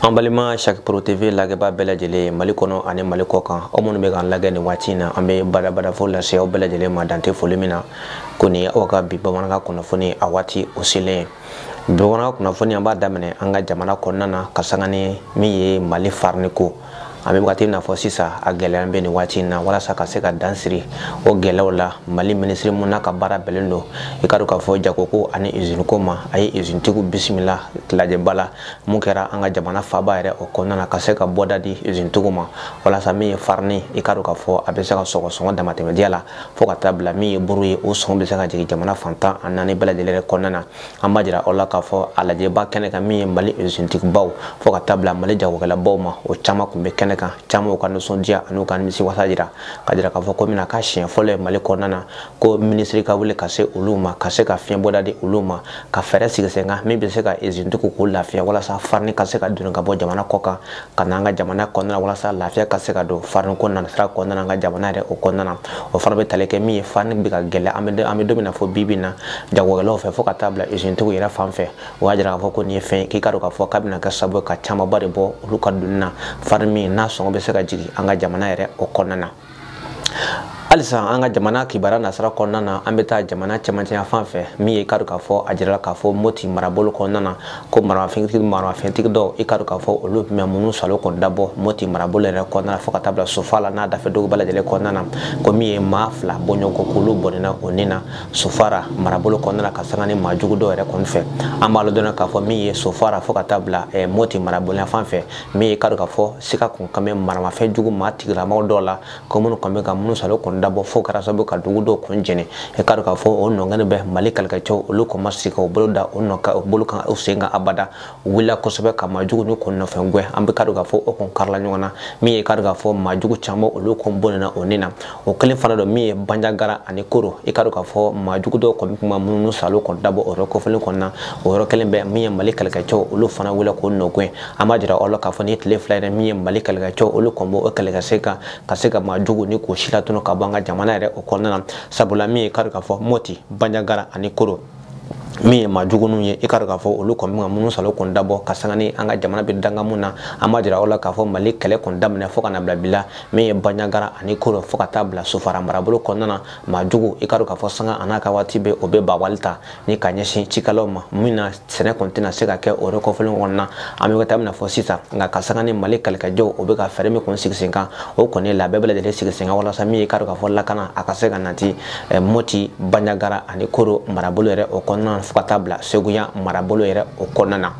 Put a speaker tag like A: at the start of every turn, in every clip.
A: an balima chaque pro tv lagɛba bɛɛ lajɛlen mali kɔnɔ ani mali kɔ kan aw minnu bɛ k'an lagɛ nin waati in na an bɛ badabadafo lase aw bɛɛ lajɛlen ma dan tɛ foli min na ko nin ye aw ka bi bamanankan kunnafoni a waati o selen ye bi bamanankan kunnafoni an b'a daminɛ an ka jamana kɔnɔna na ka sanga ni min ye mali farini ko an bɛ wagati n'a fɔ sisan a gɛlɛya bɛ nin waati in na walasa ka se ka dan siri o gɛlɛyaw la mali minisiri min n'a ka baara bɛnnen don i k'a dɔn k'a fɔ jagoko ani izini ko ma a ye izinitigiw bisimila lajɛba la min kɛra an ka jamana faba yɛrɛ o kɔnɔna na ka se ka bɔda di izinitigiw ma walasa min ye farini i k'a dɔn k'a fɔ a bɛ se ka sɔrɔ sɔngɔ damatɛmɛdiya la fo ka taa bila min ye buru ye o sɔngɔ bɛ se ka jigin jamana fan tan ni naani bɛɛ lajɛlen kɔnɔna na an b'a jira aw la k'a fɔ a lajɛba kɛnɛ kan min ye mali izintigibaw fo ka taa bila mali jagokɛlabaw ma o caman kun bɛ kɛnɛ kan camanw ka nisɔndiya an'u ka nimisiwasa jira k'a jira k'a fɔ ko mina ka siɲɛ fɔlɔ ye mali kɔnɔna na ko minisiri ka wele ka se olu ma ka se ka fiɲɛbɔda di olu ma ka fɛɛrɛ sigi sen kan min bɛ se ka izintigiw k'u lafiya walasa farini ka se ka doni ka bɔ jamana kɔ kan ka n'an ka jamana kɔnɔna na walasa lafiya ka se ka don farin ko nasira kɔnɔna na an ka jamana yɛrɛ o kɔnɔna na o fana bɛ tali kɛ min ye farin bɛ ka gɛlɛya an bɛ an bɛ don min na fo bi bi in na jagokɛlaw fɛ fo ka taa bila izintigiw yɛrɛ fan fɛ o y'a jira k'a fɔ ko nin ye fɛn ye k'i k'a dɔn k'a fɔ k'a bɛna kɛ sababu ye ka camanba de bɔ olu ka doni na farin min n'a sɔngɔ bɛ se ka jigin an ka jamana yɛrɛ o kɔnɔna na halisa an ka jamana kibaru nasira kɔnɔna na an bɛ taa jamana cɛmancɛ yanfan fɛ min ye i ka dɔn k'a fɔ a jirala k'a fɔ moti marabolo kɔnɔna na ko maramafɛntigi maramafɛntigi dɔw i ka dɔn k'a fɔ olu tun bɛ minnu salo kɔni dabɔ moti marabolo yɛrɛ kɔnɔna na fo ka taa bila sofara n'a dafɛ dugu bɛɛ lajɛlen kɔnɔna na ko min ye maa fila bɔɲɔgɔnko k'olu bɔnɛna u ni na sofara marabolo kɔnɔna na ka sanga ni maa jugu dɔw yɛrɛ kɔni fɛ an b'aw ladɔnniya k'a fɔ min ye sofara fo ka taa bila moti marabolo yanfan fɛ min ye i k'a dɔn k'a fɔ sika kun kan bɛ maramafɛn jugu maa tigilamaw dɔw la ko minnu kɔni bɛ ka minnu salo kɔni dabɔ fo kɛra sababu ka dugu dɔw kun jɛni i k'a dɔn k'a fɔ o nɔgɔni bɛɛ mali kɛlɛkɛcɛw olu kɔni ma sigi ka u bolo da o nɔ ka u bolo kan u sen kan abada u wulila kosɛbɛ ka maa jugu ni kun nɔfɛ gɛn an bɛ k'a dɔn k'a fɔ o kun karila ɲɔgɔn na min ye i k'a dɔn k'a fɔ maa jugu caman olu kun bɔnɛna u ni na o kelen fana don min ye banjagara ani koro i k'a dɔn k'a fɔ maa jugu dɔw kɔni kun bɛ minnu salo kɔni dabɔ o yɔrɔ kofɔlen kɔni na o yɔrɔ kelen bɛɛ min ye mali kɛlɛkɛcɛw olu fana wulila k'o nɔ gɛn an b'a jira aw la k'a fɔ nin tile fila yɛrɛ min ye mali kɛlɛkɛcɛw olu kɔni b'u kɛlɛkɛsen kan ka se ka maa jugu nin k'u si latunu ka bɔ an ka jamana yɛrɛ o kɔnɔna na sabula min ye i k'a dɔn k'a fɔ moti banjagara ani koro min ye maa juguninw ye i k'a dɔn k'a fɔ olu kɔni bɛ ka minnu salo kɔni dabɔ ka sanga ni an ka jamana bɛ dakun min na an b'a jira aw la k'a fɔ mali kɛlɛ kɔni daminɛ fo ka na bila bi la min ye banjagara ani koro fo ka taa bila sofara marabolo kɔnɔna na maa jugu i k'a dɔn k'a fɔ sanga an'a ka waati bɛɛ u bɛ bawali ta ni ka ɲɛsin cikɛlaw ma min na sɛnɛ kɔni tɛna se ka kɛ o yɔrɔ kofɔlen kɔnɔna na an bɛ waati min na fɔ sisan nka ka sanga ni mali kɛlɛkɛcɛw o bɛ ka fɛɛrɛ min kɔni sigi sen kan o kɔni labɛn bɛɛ lajɛlen sigi sen kan walasa min ye k'a dɔn k'a fɔ lakana a ka se ka nati eh, mɔti banjagara ani koro marabolo yɛrɛ o kɔnɔna na fo ka taa bila seguya marabolo yɛrɛ o kɔnɔna na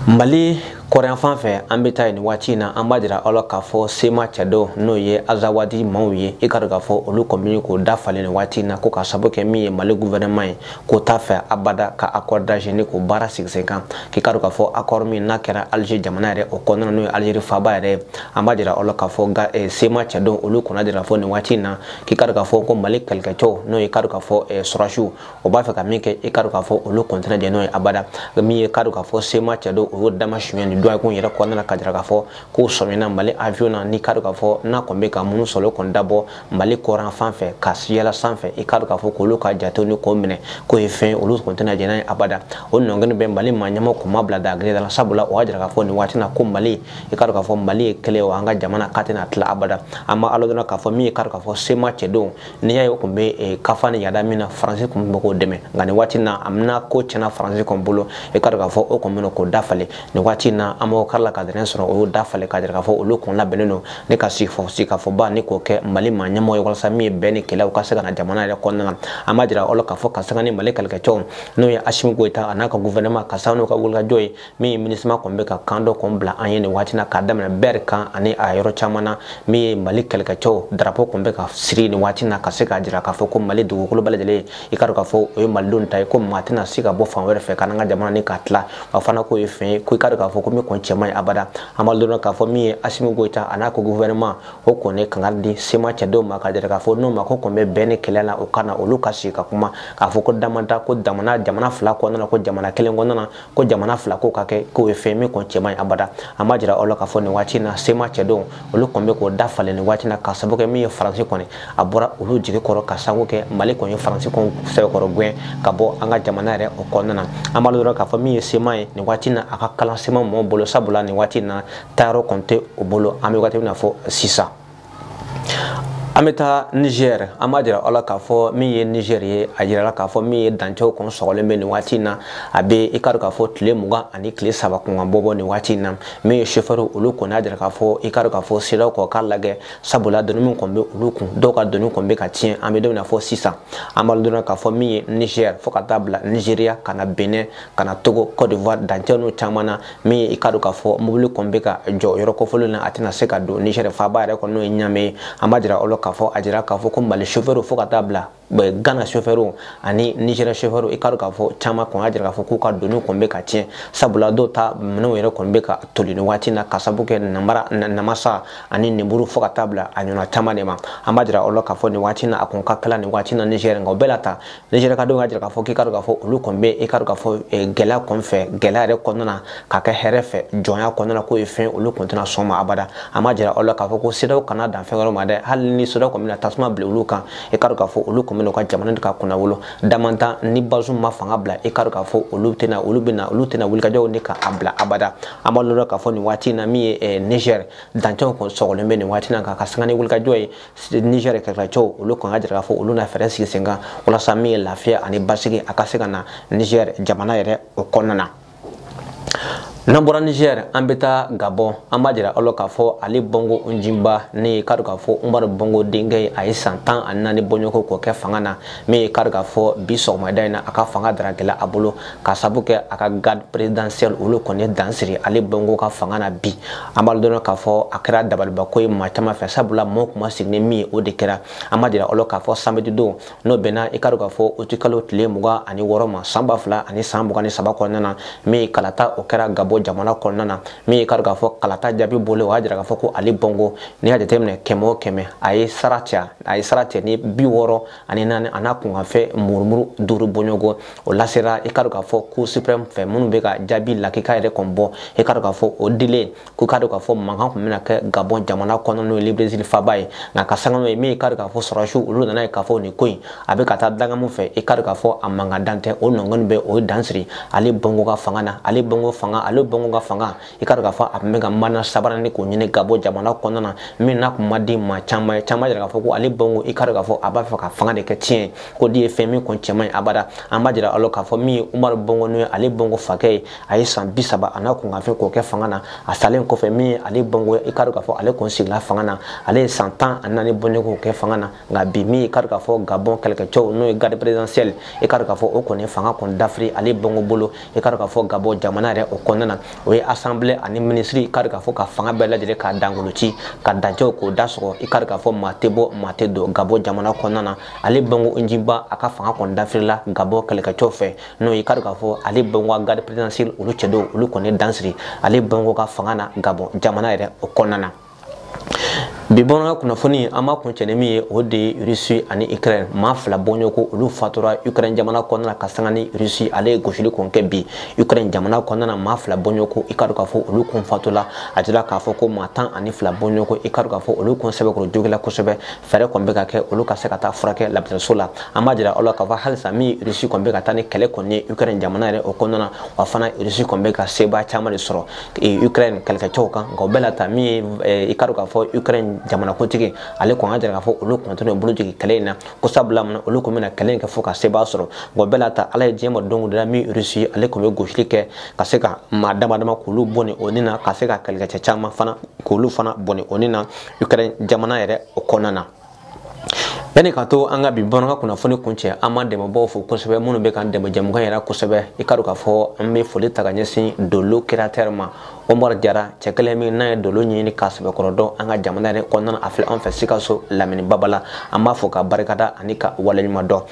A: mali kɔrɔn fan fɛ an bɛ taa yen nin waati in na an b'a jira aw la k'a fɔ sema cɛdenw n'o ye azawadi maaw ye i k'a dɔn k'a fɔ olu kɔni ye k'o da falen nin waati in na ko ka sabu kɛ min ye mali guvɛrɛnɛman ye k'o t'a fɛ abada ka akɔri dalize k'o baara sigi sen kan k'i k'a dɔn k'a fɔ akɔri min n'a kɛra alize jamana yɛrɛ o kɔnɔna n'o ye alizeri faaba yɛrɛ ye an b'a jira aw la k'a fɔ ga eh, sema cɛdenw olu kɔni y'a jira k'a fɔ nin waati in na k'i k'a dɔn k'a fɔ ko mali kɛlɛkɛcɛw n'o ye k'a dɔn k'a fɔ eh, sɔrɔdasiw o b'a fɛ ka min kɛ i k'a dɔn k'a fɔ olu kɔni tɛna jɛn n'o ye abada min ye k'a dɔn k'a fɔ sema cɛdenw o y'o dama suɲɛ nin dɔgɔkun yɛrɛ kɔnɔna na k'a jira k'a fɔ k'o sɔmina mali avion na n'i k'a dɔn k'a fɔ n'a kɔni bɛ ka minnu sɔrɔ kɔni dabɔ mali kɔrɔn fan fɛ ka siyala sanfɛ i k'a dɔn k'a fɔ k'olu ka jatew ni k'o minɛ k'o ye fɛn olu kɔni tɛna jɛn n'a ye abada o nɔngɛni bɛ mali maa ɲɛmɔgɔw ma bila dagakelen da la sabula o y'a jira k'a fɔ nin waati na ko mali i k'a dɔn k'a fɔ mali ye kelen ye o an ka jamana k'a tɛna tila abada an b'a dɔn k'a fɔ min ye k'a dɔn k'a fɔ sema cɛdenw n'i y'a ye o tun bɛ eh, ka fa ni yada min na faransi tun bɛ k'o dɛmɛ nka nin waati na a bɛna ko tiɲɛna faransi kɔni bolo i k'a dɔn k'a fɔ o kɔni bɛna k'o da falen nin waati na an b'o kari la ka dɛrɛn sɔrɔ o y'o da falen k'a jira k'a fɔ olu kɔni labɛnnen don ne ka sigifɔ sigikafɔba ni k'o kɛ mali maa ɲɛmɔgɔ ye walasa min ye bɛn ni kelenya ka se ka na jamana yɛrɛ kɔnɔna na an b'a jira aw la k'a fɔ ka sanga ni mali kɛlɛkɛcɛw n'o ye asimi goyita a n'a ka guvɛrɛnɛman ka sanga n'u ka wulikajɔ ye min ye minusima kɔni bɛ ka kan dɔ kɔni bila an ye nin waati na k'a daminɛ bɛri kan ani a yɔrɔ caman na min ye mali kɛlɛkɛcɛw darapo kɔni bɛ ka siri nin waati na ka se k'a jira k'a fɔ ko mali dugukolo bɛɛ lajɛlen i k'a dɔn k'a fɔ o ye malidenw ta ye ko maa tɛna se ka bɔ fan wɛrɛ fɛ ka n'an ka jamana ni k'a tila wa fana k'o ye fɛn ye ko i k'a dɔn k'a fɔ ko min kɔni cɛ man ɲi abada an b'a dɔn k'a fɔ min ye asimi goyita a n'a ka guvɛrɛnɛman o kɔni kangari di sema cɛdenw ma k'a jira k'a fɔ n'o mako kɔni bɛ bɛn ni kelenya la o ka na olu ka sigi ka kuma k'a fɔ ko damanta ko jamana jamana fila kɔnɔna ko jamana kelen kɔnɔna ko jamana fila ko ka kɛ k'o ye fɛn min kɔni cɛ man ɲi abada an b'a jira aw la k'a fɔ nin waati na sema cɛdenw olu kɔni bɛ k'o da falen nin waati na ka sababu kɛ min ye faransi kɔni a bɔra olu jigi kɔrɔ ka sababu kɛ mali kɔni ye faransi kɔni sɛbɛkɔrɔ gɛn ka bɔ an ka jamana yɛrɛ o kɔnɔna na an b'a dɔn k'a fɔ min ye sema ye nin waati na a ka kalan sema mɔgɔw bolo sabula nin waati na taayɔrɔ kɔni tɛ o bolo an bɛ waati min na fɔ sisan an bɛ taa nizɛri an b'a jira aw la k'a fɔ min ye nizɛri ye a jirala k'a fɔ min ye dancɛw kɔni sɔgɔlen bɛ nin waati in na a bɛ i k'a dɔn k'a fɔ tile mugan ani tile saba kunkan bɔ bɔ nin waati in na min ye sofɛriw olu kɔni y'a jira k'a fɔ i k'a dɔn k'a fɔ siraw kɔni k'a lagɛ sabula doni min kɔni bɛ olu kun dɔw ka doni kɔni bɛ ka tiɲɛ an bɛ don min na fɔ sisan an b'a dɔn k'a fɔ min ye nizɛri fo ka taa bila nizeriya ka na benɛn ka na togo kɔdiwari dancɛ n'u caman na min ye i ka dɔn k'a fɔ mobili kɔni bɛ ka jɔ yɔrɔ kɔfɔlen na a tɛna se ka don nizɛri faaba yɛrɛ kɔnɔ n'o ye ɲame ye an b'a jira aw la k'a fɔ a jira k'a fɔ ko mali sofɛriw fo ka taa bila gana sofɛriw ani nizɛri sofɛriw i ka dɔn k'a fɔ caman kɔni y'a jira k'a fɔ k'u ka doni kɔni bɛ ka tiɲɛ sabula dɔw ta minɛnw yɛrɛ kɔni bɛ ka toli nin waati na ka sabu kɛ namara namasa ani ninburu fo ka taa bila a ɲɔgɔnna caman de ma an b'a jira aw la k'a fɔ nin waati na a kɔni ka kalan nin waati na nizɛri nka o bɛɛ n'a ta nizɛri ka denw y'a jira k'a fɔ k'i ka dɔn k'a fɔ olu kɔni bɛ i ka dɔn k'a fɔ gɛlɛya kɔni fɛ gɛlɛya yɛrɛ kɔnɔna na ka kɛ hɛrɛ fɛ jɔnya kɔnɔna na k'o ye fɛn olu kɔni tɛna sɔn ma abada an b'a jira aw la k'a fɔ ko sedaw kana dan fɛn wɛrɛ ma dɛ hali ni sedaw kɔni bɛna tasuma bila olu kan i ka dɔn k'a fɔ olu kɔni bɛna u ka jamana ka kunnawolo damantan ni bazum ma fanga bila i ka dɔn k'a fɔ olu tɛna olu bɛna olu tɛna wulikajɔ nin dabila abada an b'a lɔn k'a fɔ nin waati in na min ye nizɛri dancɛw kɔni sɔgɔlen bɛ nin waati in na k'a ka sanga ni wulikajɔ ye nigɛr kɛlɛkɛcɛw olu kɔni y'a jira k'a fɔ olu na fɛɛrɛ sigi sen kan walasa min ye lafiya ani basigi a ka se ka na nigɛr jamana yɛrɛ o kɔnɔna na n'an bɔra nigɛr an bɛ taa gabɔn an b'a jira aw la k'a fɔ ali bongo njinba min ye ka dɔn k'a fɔ umaru bongo denkɛ ye a ye san tan ani naani bɔɲɔgɔnko k'o kɛ fanga na min ye ka dɔn k'a fɔ bi sɔgɔmada in na a ka fanga daragɛla a bolo ka sabu kɛ a ka garde présidentielle olu kɔni ye dan siri ali bongo ka fanga na bi an b'a dɔn k'a fɔ a kɛra dabalibako ye maa caman fɛ sabula mɔɔ tun ma sigi ni min ye o de kɛra an b'a jira aw la k'a fɔ samedi don n'o bɛnna i ka dɔn k'a fɔ uti kalo tile mugan ani wɔɔrɔ ma san ba fila ani san mugan ni saba kɔnɔna na min ye kalata o kɛra gabɔ jamana kɔnɔna na min ye ka dɔn k'a fɔ kalata jaabi bɔlen o y'a jira k'a fɔ ko ali bongo n'i y'a jateminɛ kɛmɛ o kɛmɛ a ye sara cɛ a ye sara cɛ ni bi wɔɔrɔ ani naani a n'a kunkanfɛn murumuru duuru bɔɲɔgɔn o lasera i ka dɔn k'a fɔ cour suprême fɛ minnu bɛ ka jaabi lakika yɛrɛ kɔni bɔ i ka dɔn k'a fɔ o dilen kɔ ka dɔn k'a fɔ mankan tun bɛna kɛ gabɔn jamana kɔnɔ n'o ye librevili faaba ye nka ka sanga n'o ye min i ka dɔn k'a fɔ sɔrɔdasiw olu nan'a ye k'a fɔ nin ko in a bɛ ka taa dangamu fɛ i ka dɔn k'a fɔ a mankan dan tɛ o nɔgɔni bɛɛ u ye dan siri ali bongo ka fanga na ali bongo fanga ali bongo ka fanga i ka dɔn k'a fɔ a tun bɛ ka manda sabanan nin k'o ɲini gabɔn jamana kɔnɔna na min n'a tun ma di maa caman ye caman y'a jira k'a fɔ ko ali bongo i ka dɔn k'a fɔ a b'a fɛ ka fanga de kɛ tiɲɛ ye k'o de ye fɛn min kɔni cɛ man ɲi abada an b'a jira aw la k'a fɔ min ye umaru bongo n'o ye ali bongo fakɛ ye a ye san bi saba a n'a kunkanfɛn k'o kɛ fanga na a salen kɔfɛ min ye ali bongo i ka dɔn k'a fɔ ale kɔni sigila fanga na ale ye san tan ani naani bɔɲɔgɔn k'o kɛ fanga na nka bi min i ka dɔn k'a fɔ gabɔn kɛlɛkɛcɛw n'o ye garde présidentielle i ka dɔn k'a fɔ o kɔni fanga kɔni dafiri ali bongo bolo i k'a dɔn k'a fɔ gabɔ jamana yɛrɛ o kɔnɔna na o ye asanbile ani minisiri i k'a dɔn k'a fɔ ka fanga bɛɛ lajɛlen k'a dangolo ci ka dancɛw k'o da sɔgɔ i k'a dɔn k'a fɔ maa tɛ bɔ maa tɛ don gabɔ jamana kɔnɔna na ali bongo njinba a ka fanga kɔni dafirila gabɔ kɛlɛkɛcɛw fɛ n'o ye i k'a dɔn k'a fɔ ali bongo ka garde présidentielle olu cɛ don olu kɔni dan siri ali bongo ka fanga na gabɔ jamana yɛrɛ o kɔnɔna na bi bɔnɔna kunnafoni an b'a kuncɛ ni min ye o de ye rusi ani ukraine maa fila bɔɲɔgɔnko olu fatura ukraine jamana kɔnɔna na ka sanga ni rusi ale ye gosili kɔni kɛ bi ukraine jamana kɔnɔna na maa fila bɔɲɔgɔnko i ka dɔn k'a fɔ olu kɔni fatula a jira k'a fɔ ko maa tan ani fila bɔɲɔgɔnko i ka dɔn k'a fɔ olu kɔni sɛbɛkɔrɔ jogila kosɛbɛ fɛɛrɛ kɔni bɛ ka kɛ olu ka se ka taa furakɛ labitaniso la an b'a jira aw la k'a fɔ halisa min rusi kɔni bɛ ka taa ni kɛlɛ kɔni ye ukraine jamana yɛrɛ o kɔnɔna na wa fana rusi kɔni bɛ ka sebaa caman de sɔrɔ ukraine kɛlɛkɛcɛw kan nka o bɛɛ la ta min ye eh, i ka dɔn k'a fɔ ukraine jamanakuntigi ale kɔni k'a jira k'a fɔ olu kɔni t'u bolo jigin kɛlɛ in na ko sabula mun olu kɔni bɛna kɛlɛ in kɛ fo ka sebaa sɔrɔ nka o bɛɛ la ta ala ye diɲɛ ma don o don la min rusi ale kɔni bɛ gosili kɛ ka se ka maa dama dama k'olu bɔnɛ u ni na ka se ka kɛlɛkɛcɛ caman fana k'olu fana bɔnɛ u ni na ukraine jamana yɛrɛ o kɔnɔna na yanni ka to an ka bi bamanankan kunnafoni kuncɛ an b'an dɛmɛbaaw fo kosɛbɛ minnu bɛ k'an dɛmɛ jɛmukan yɛrɛ kosɛbɛ i ka dɔn k'a fɔ an bɛ foli ta ka ɲɛsin dolo créateur ma omar jara cɛ kelen min n'a ye dolo ɲɛɲini k'a sɛbɛkɔrɔ dɔn an ka jamana yɛrɛ kɔnɔna a filɛ an fɛ sikaso lamini babala an b'a fo k'a barika da ani k'a waleɲuman dɔn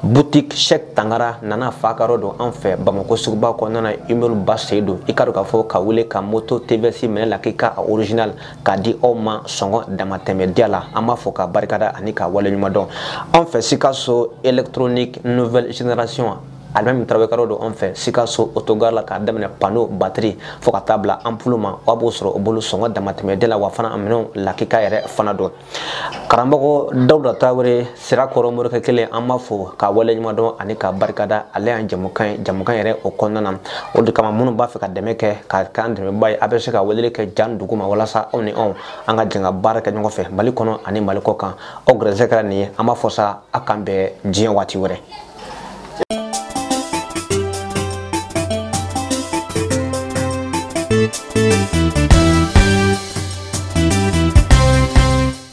A: boutique chek tangara nana fa ka yɔrɔ don an fɛ bamako suguba kɔnɔna na immeuble ba seyidu i ka dɔn k'a fɔ ko ale ka moto tvs minɛn lakika original k'a di aw ma sɔngɔ damatɛmɛdiya la an b'a fo k'a barika da ani k'a waleɲuman dɔn anw fɛ sikaso électronique nouvelle génération alimami tarawele ka yɔrɔ don anw fɛ sikaso otogar la k'a daminɛ pano batiri fo ka taa bila anpulu ma aw b'o sɔrɔ o bolo sɔngɔ damatɛmɛdiya la wa fana a minɛnw lakika yɛrɛ fana don karamɔgɔ dawuda tarawele sirakɔrɔ morikɛ kelen an b'a fo k'a waleɲuman dɔn ani k'a barika da ale y'an jamukan ye jɛmukan yɛrɛ o kɔnɔna na o de kama minnu b'a fɛ ka dɛmɛ kɛ ka kɛ an dɛmɛbaa ye a bɛ se ka weleli kɛ ja in duguma walasa aw ni anw an ka jɛn ka baara kɛ ɲɔgɔn fɛ mali kɔnɔ ani mali kɔ kan aw gɛrɛsɛ kɛra nin ye an b'a fɔ sa a k'an bɛn diɲɛ waati wɛrɛ